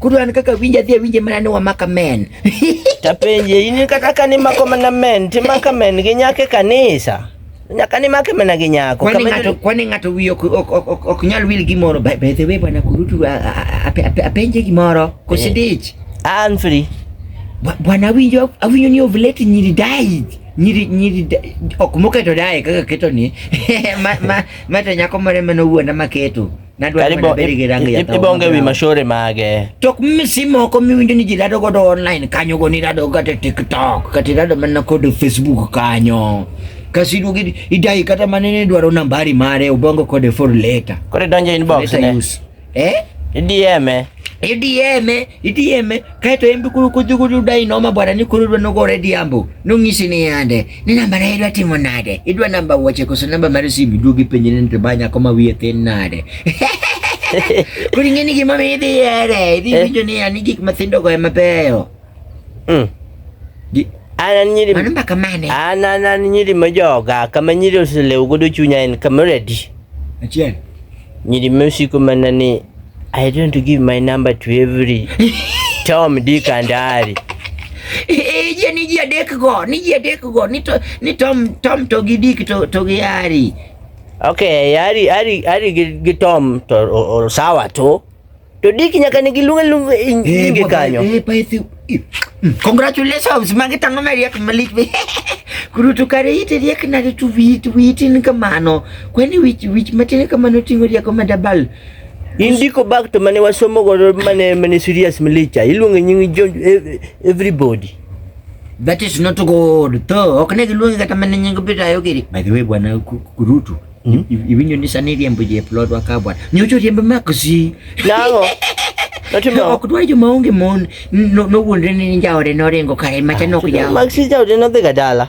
Kuru an kaka winja dhi awinje mana ni wamaka men. Tapenje in kata ka ni mako mana men, ti maka men gi nyake kanisa. Nyaka ni make mana gi nyako. Kwani ng'ato kwani ng'ato wiyo ok ok ok ok nyal wil gi moro. By the way bwana kurutu apenje gi moro. Kosidich. Eh. An free. Bwana winjo awinyo ni ovulate nyiri dai. Nyiri nyiri ok moketo dai kaka keto ni. Ma ma ma to nyako mare mano wuonda maketo. ibonge wi mashore mage tok misi moko miwinjo ni ji rado godo online kanyo go nirado kata tiktok kata irado mana kod facebook kanyo kasi iduogo idayi kata mana ni idwaro nambari mare ubongo kode for later kore donjo inbox ne eh idieme idieme idieme kaeto en be koro kodhi godo udayi noma bwana ni koro idwa nogore diambo nong'isi ni yande Ni namba na idwa timo nade? Idwa namba wuoche koso namba mar simu duogi ipenje ni to banya koma wiye thin nade? Kuri ngeni gima mi idhi ere, idhi eh. winjo ni ani gik mathindo go ema beyo. Mm. Ana nyiri Mano mbaka mane? Ana ana nyiri majoga kama nyiri oselew godo chunya en kama ready. Achiel. Nyiri mesiko mana ni I don't give my number to every Tom, Dick and Harry. Ije ni jia dek go, ni jia dek go, ni to ni Tom Tom to gi Dick to to gi Harry. Okay, Harry Harry Harry gi, gi Tom to o, o, sawa to. To Dick nyaka ni gi lunga lunga eh, inge kanyo. Eh, pa ithu. Mm, congratulations, magi tango meri ak malik be. Kurutu kare ite riek na tu wit wit ni kamano. Kwani wich wich matene kamano tingo riek ma dabal. Indiko bag to mane wasomo godo mane mane serious milicha iluonge nying jo e- everybody. That is not good. To ok ne giluongi kata mana nying Peter Ayogiri. By the way bwana Ku- Kurutu. Mm. Iwinjo ni sani riembo je plot wa ka bwana. Nyocho riembo makosi. Nango. Natimo. Ok dwa joma onge mon. No no wuondre ni jaode noringo kare macha nok jawo. Maxi jaode nodhi ga dala.